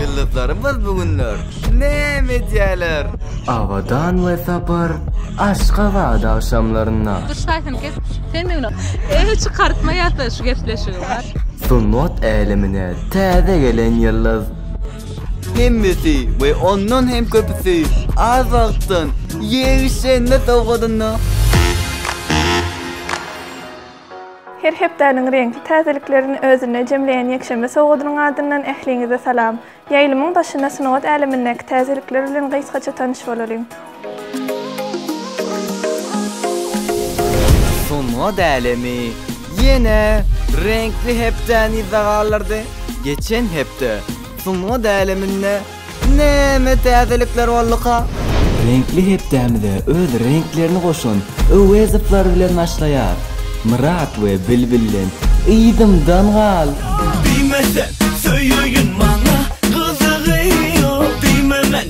Ýyldyzlarymyz bu günler näme edýärler? Abadan we sapar Aşgabat agşamlarynda. Dur şaýsyny kes. Sen de güna. Eý çykartmaýa-da şu gepleşigi. Sungat älemine täze gelen ýyldyz Hemmesi we ondan hem köpüsi az wagtdan ýegişlenme sowgadynda. Her hepdäniň reňkli täzeliklerini özünde jemleýän ýekşenbe sowgadynyň adyndan ähliňize salam! Ýaýlymyň başynda sungat älemindäki täzelikler bilen gysgaça tanyş bolalyň. Sungat älemi ýene reňkli hepdäni yza galdyrdy. Geçen hepde sungat äleminde näme täzelikler bolduka? Reňkli hepdämize öz reňklerini goşan Öwezowlar bilen başlaýar. Myrat we Bilbilden yzymdan gal! Diýme sen söýeýin maňa gyzygy ýok diýme men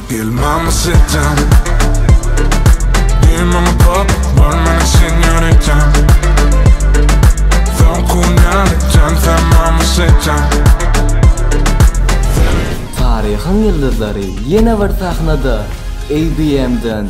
Gel mama setem Benim mama pop Var mene senyoritam Son kunal Can sen mama setem Taryhyň ýyldyzlary ýene bir sahnada! ABM-den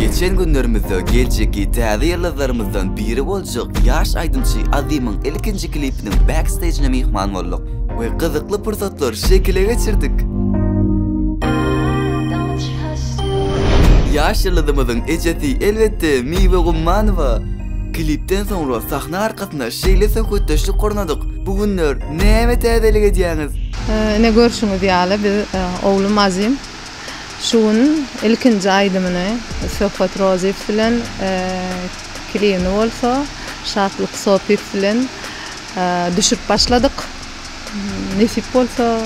Geçen günlerimizde geljekki täze ýyldyzlarymyzdan biri boljak ýaş aýdymçy Azimiň ilkinji klipiniň backstejine myhman bolduk we gyzykly pursatlary şekile geçirdik. Ýaş ýyldyzymyzyň ejesi, elbetde, Miwe Gummanowa. Klipden soňra sahna arkasyna şeýle söhbetdeşlik gurnadyk, Bu günler näme täzelik edýäňiz? Ine görşüňiz ýaly biz oglum Azim şu gün ilkinji aýdymyny Söhbet Rozyýew bilen klibini bolsa Şatlyk Sopyýew bilen düşürip başladyk. Nesip bolsa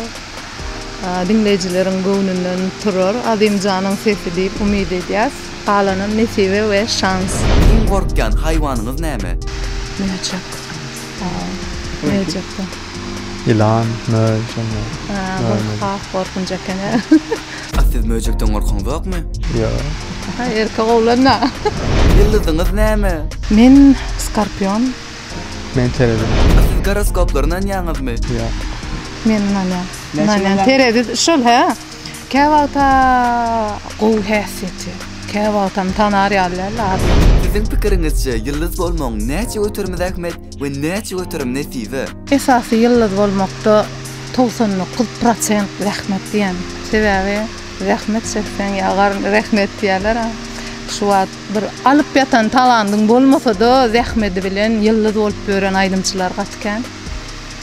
diňleýjileriň göwnünden turar Azimjanyň sesi diýip umyt edýäs. Galanam nesibe we şans. Iň gorkýan haýwanyňyz näme? Möjek. Möjek. Ýylan, möý, şonda. Aa, bu has gorkunç eken-ä. A siz möjekden gorkaňzokmy? Ýok. Aha, erkek oglan-a. Ýyldyzyňyz näme? Men skorpion. Men terezi. A siz goroskoplara ynanýaňyzmy? Ýok. Men ynanýan. Ynanýan. Terezi şol, hä? Käwagta gowy häsiýeti. Käwagtam tanar ýaly däl-le az. Siziň pikiriňizçe, ýyldyz bolmagyň näçe göterimize ähmiýet? We näçe göterim nesibe. Esasy ýyldyz bolmakda togsan dokuz prosent zähmet diýen. Sebäbi zähmet çekseň ýa garyn rehnet diýýärler a. Şu wagt bir alyp ýatan talandyň bolmasada zähmedi bilen ýyldyz bolup ýören aýdymçylar gaty kän.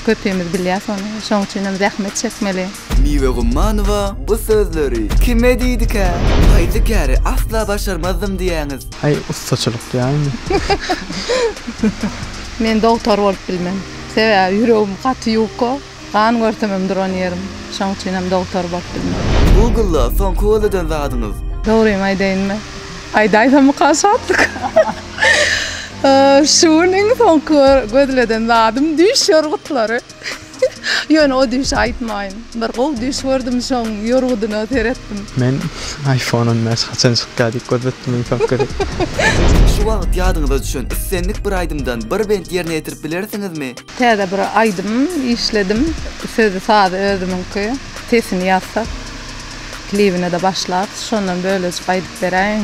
Köpimiz bilýäs ony. Şoň üçinem zähmet çekmeli. Miwe Gummanowa bu sözleri kime diýdikä? Haýsy käri asla başarmazdym diýýäňiz? Aý ussaçylyk ýaýmy? Men dogtor bolup bilmen. Sebäbi ýüregim gaty ýuka, gan görsemem duran ýerim. Şoň üçinem dogtor bolup bilmen. Google-a soňky göz eden zadyňyz? Dogrymy aýdaýynmy? Aýdaýsamyka şatlyk. Şu gün iň soňky gözleden zadym düýş ýorgutlary. Ýöne o düýşi aýtmaýyn. Bir gowy düýş gördüm şoň ýorgudyna seretdim. Men iPhone on bäş haçan çykýa diýip göz etdim iň soňky gezek. Şu wagyt ýadyňyza düşen islendik bir aýdymdan bir bent ýerine ýetirip bilersiňizmi? Täze bir aýdym işledim. Sözi sazy özümiňki. Sesini ýazsak, klibine-de başlapys. Şondan bölejik aýdyp beräýiň.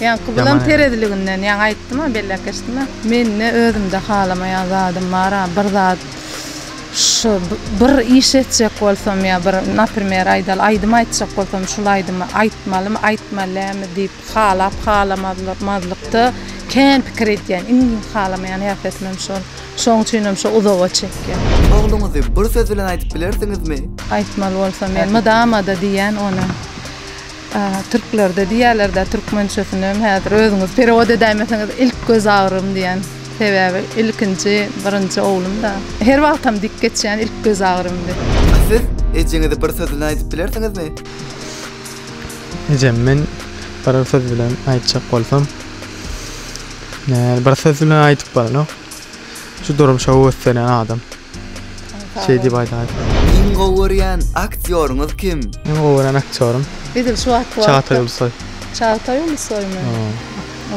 Ýaňky bulam tereziliginden ýaňy aýtdym-a, belläp geçdim-ä. Mende özümde halamaýan zadym bar-a, bir zat şu bir iş etjek bolsam ýa bir, naprimer, aýdaly, aýdym aýtjak bolsam, şul aýdymy aýtmalymy, aýtmaly dälmi diýip halap halamazlykda kän pikir edýän. Iň halamaýan häsiýetimem şol. Şoň üçinem şo uzoga çekýär. Ogluňyzy bir söz bilen aýdyp bilersiňizmi? Aýtmaly bolsam men mydama-da diýýän ony. Türklerde diýýärler-dä, türkmençesinem häzir özüňiz perewod edäýmeseňiz, ilk göz agrym diýen. Sebäbi ilkinji, birinji oglum-da. Her wagtam dik geçýän ilk göz agrym diýip. A siz ejeňize bir sözüni aýdyp bilersiňizmi? Ejem, men biror söz bilen aýtjak bolsam, bir söz bilen aýdyp bolanok. Şu durmuşa höweslenen adam şeý diýip aýdaýyp. Iň gowy görýän aktýoryňyz kim? Iň gowy görýän aktýorym. Edil şu wagtky wagtda. Çagtaý Ulusoý. Çagtaý Ulusoýmy?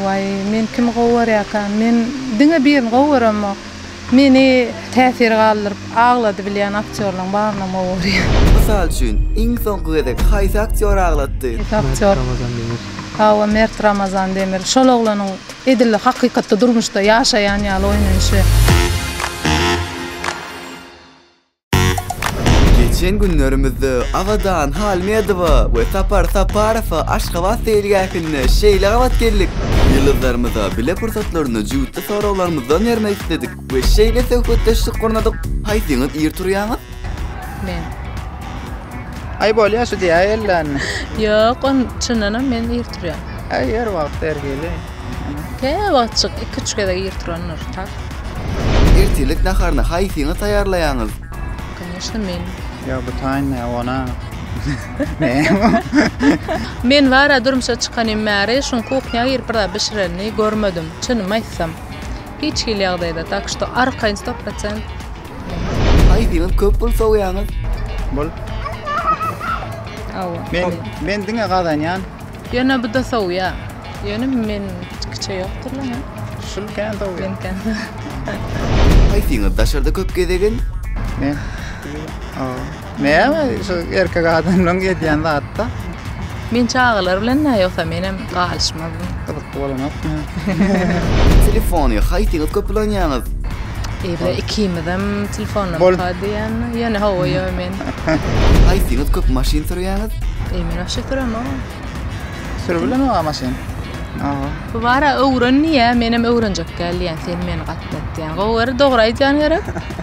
Waý, men kimi gowy görýärkä? Men diňe birini gowy göremok. Meni täsir galdyryp, aglady bilýän aktýorlaryň barynam gowy görýän. Mysal üçin, iň soňky gezek haýsy aktýor aglatdy? Haýsy aktýor? Mert Ramazan Demir. Hawa, Mert Ramazan Demir. Şol oglanyň Edil hakykatda durmuşda ýaşaýan ýaly oýnanyşy. Geçen günlerimizde Abadan Halmedowa we Sapar Saparowa Aşgabat seýilgähinde şeýle gabat geldik. Ýyldyzlarymyza bile pursatlaryny jübütli soraglarymyzdan bermek isledik we şeýle söhbetdeşlik gurnadyk. Haýsyňyz ir turýaňyz? Men. Ay bolýa şu diýä ellänni. Ýok, on çyndanam men ir turýan. Ay ýer wagt ergeli. Ke wagtçyk 2-3 gezek ir turandyr, tak. Ertirlik naharyny haýsyňyz taýýarlaýaňyz? Конечно, men. Ýa bu taýynda ona. Men bara durmuşa çykanym bäri şuň kuhnýa girip bir zat bişirenini görmedim, çynymy aýtsam. Hiç hili ýagdaýda, tak što arkaýyn sto prosent. Aýdyňyz köp pul sowýaňyz. Bol. Awa. Men men diňe gazanýan. Ýöne bu da sowýa. Ýöne men kiçe ýokdur lan. Şul kän sowýa. Men kän. Aýdyňyz daşarda köp gezegin. Men. Awa. Näme şu erkek adamlaryň edýän zatda. Men çagalar bilen da ýogsa menem galyşmazdym. Gyzykly bolanokmy? Telefony haýsyňyz köp ulanýaňyz? Evde ikimizem telefondan Bol. muka diýen. Ýöne hawa ýo men. Haýsyňyz köp maşyn sürýäňiz? Eý men wagşy süremok. Sürüp bilenok maşyn. Aha. Bu bara öwren diýä, menem öwrenjek däl diýen. Sen meni gatnat diýen. Gowy gör, dogry aýdýan gerek.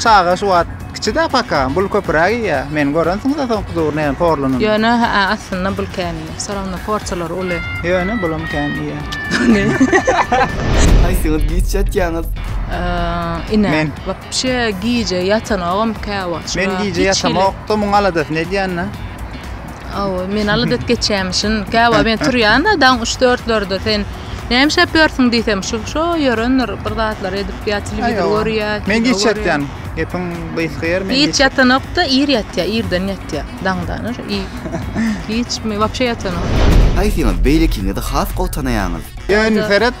Çaga şu wagt kiçi-dä paka, bul köpüräk iýýä. Meni görensiňiz-ä soňky döwür näme porlunyny. Ýöne, hä-ä, aslynda bul kän iýýä. Soragynda porsiýalary uly. Ýöne, bulam kän iýýä. Ýöne. Haýsyňyz giç ýatýaňyz? Ine. Men. Wapşe gije ýatanogam käwagt. Men gije ýatamok-da, muň aladasyny edýän-dä. Aw, men aladat geçýämişin. Käwagt men turýan-da, daň üç-dörtlerde sen näme işläp ýörsüň diýsem, şu şo ýörendir, bir zatlar edip ýa telewizor görýär. Men giç ýatýan. Gepiň gysga ýeri men. Giç ýatanok-da, ir ýatýar, irden ýatýar. Daňdan ur, ir. Giç men wapşe ýatanok. Haýsyňyz beýlekiňizi has gowy tanaýaňyz? Ýöne seret,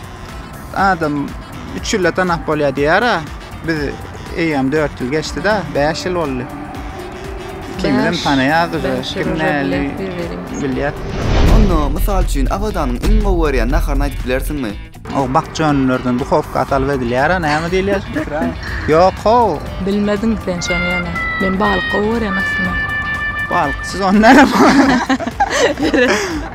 Adam üç ýylda tanap bolýar diýýär-ä. Biz eýýäm dört ýyl geçdi-de, bäş ýyl boldy. Kimem tanaýar bizi, kim näli bilýär. Onda, mysal üçin, Abadanyň iň gowy görýän naharyny aýdyp bilersiňmi? O bakja önümlerden duhowka salyp edilýär-ä, näme diýilýär? Ýok-how! Bilmediň sen şony ýöne. Men balyk gowy görýän aslynda. Balyk, siz ony näme?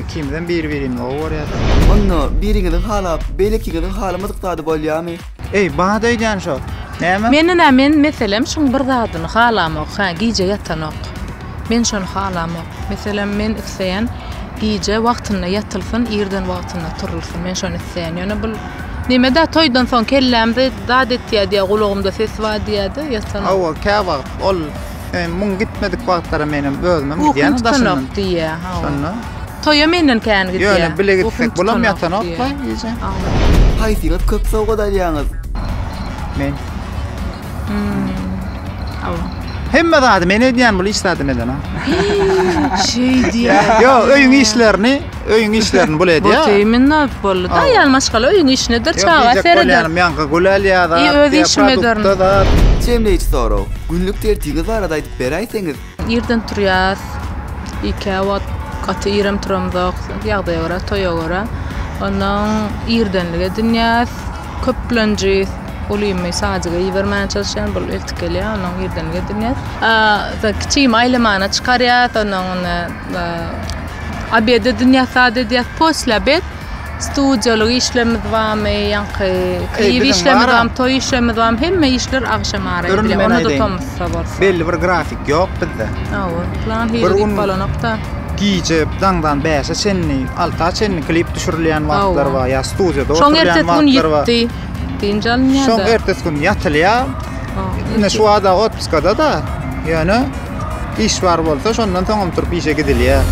Ikimizem biri-birimizi gowy görýäris. Onda biriňiziň halap, beýlekiňiziň halamadyk zady bolýamy? Eý, baha-da öýdýän şo. Näme? Menina men, meselem, şuň bir zadyny halamok, hä, gije ýatanok. Men şony halamok. Meselem, men isleýän, gije wagtynda ýatylsyn, irden wagtynda turulsyn. Men şony isleýän. Ýöne bu Neme-dä, toýdan soň kellämde zat etýär diýýär, gulagymda ses bar diýýär-de, ýatanok. Hawa, käwagt ol Eý, muň gitmedik wagtlary menem özümem gidýän daşyndan. diýýä, hawa. Şonda. Toýa menden kän gidýä. Ýöne bile gitsek bolam ýatanokla gije. Haýsyňyz köp sowgat alýaňyz? Men. Hawa. Hemme zady men edýän, bul iş zadyny edena. Şeý diýýä. Ýok, öýüň işlerini Öýüň işlerini bul edýär. Bot iýmin nädip boldy? Da ýaly maşgala öýüň işinedir, çaga sereder. Ýaňky gülälýär zat. Öýüň işini ederin. Jemleýji sorag. Günlük tertibiňiz barada aýdyp beräýseňiz? Irden turýas. Ikä wagt gaty irem turamzok. Ýagdaýa görä, toýa görä. Ondan irdenlik edinýäs. Köplenji ulymy sadiga ibermän çalyşýan. Bul eltip gelýär. Ondan irdenlik edinýäs. Kiçigimi aýlamana çykarýas. Ondan onda Obedi dünýä sad edýäs posle obed. Studiýalyk işlerimiz barmy, ýaňky klip işlerimiz barmy, toý işlerimiz barmy, hemme işler agşam ara edilýär. Onda da tomusda bolsa. Belli bir grafik ýok bizde. Hawa, plan hili diýip bolanok-da. Gije daňdan bäşe çenli, alta çenli klip düşürilýän wagtlar bar, ýa studiýada oturýan wagtlar bar. Şoň ertesi gün ýitdi. Dynç alynýar-da. Şoň ertesi gün ýatylýar. Ine şu wada otpuskada-da, ýöne. iş bar bolsa şondan soňam turup işe gidilýär.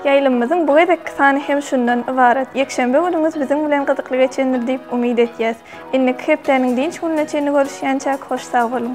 Ýaýlymymyzyň bu gezekki sany hem şundan ybarat. Ýekşenbe günüňiz biziň bilen gyzykly geçendir diýip umyt edýäs. Indiki hepdäniň dynç gününe çenli görüşýänçäk hoş sag boluň.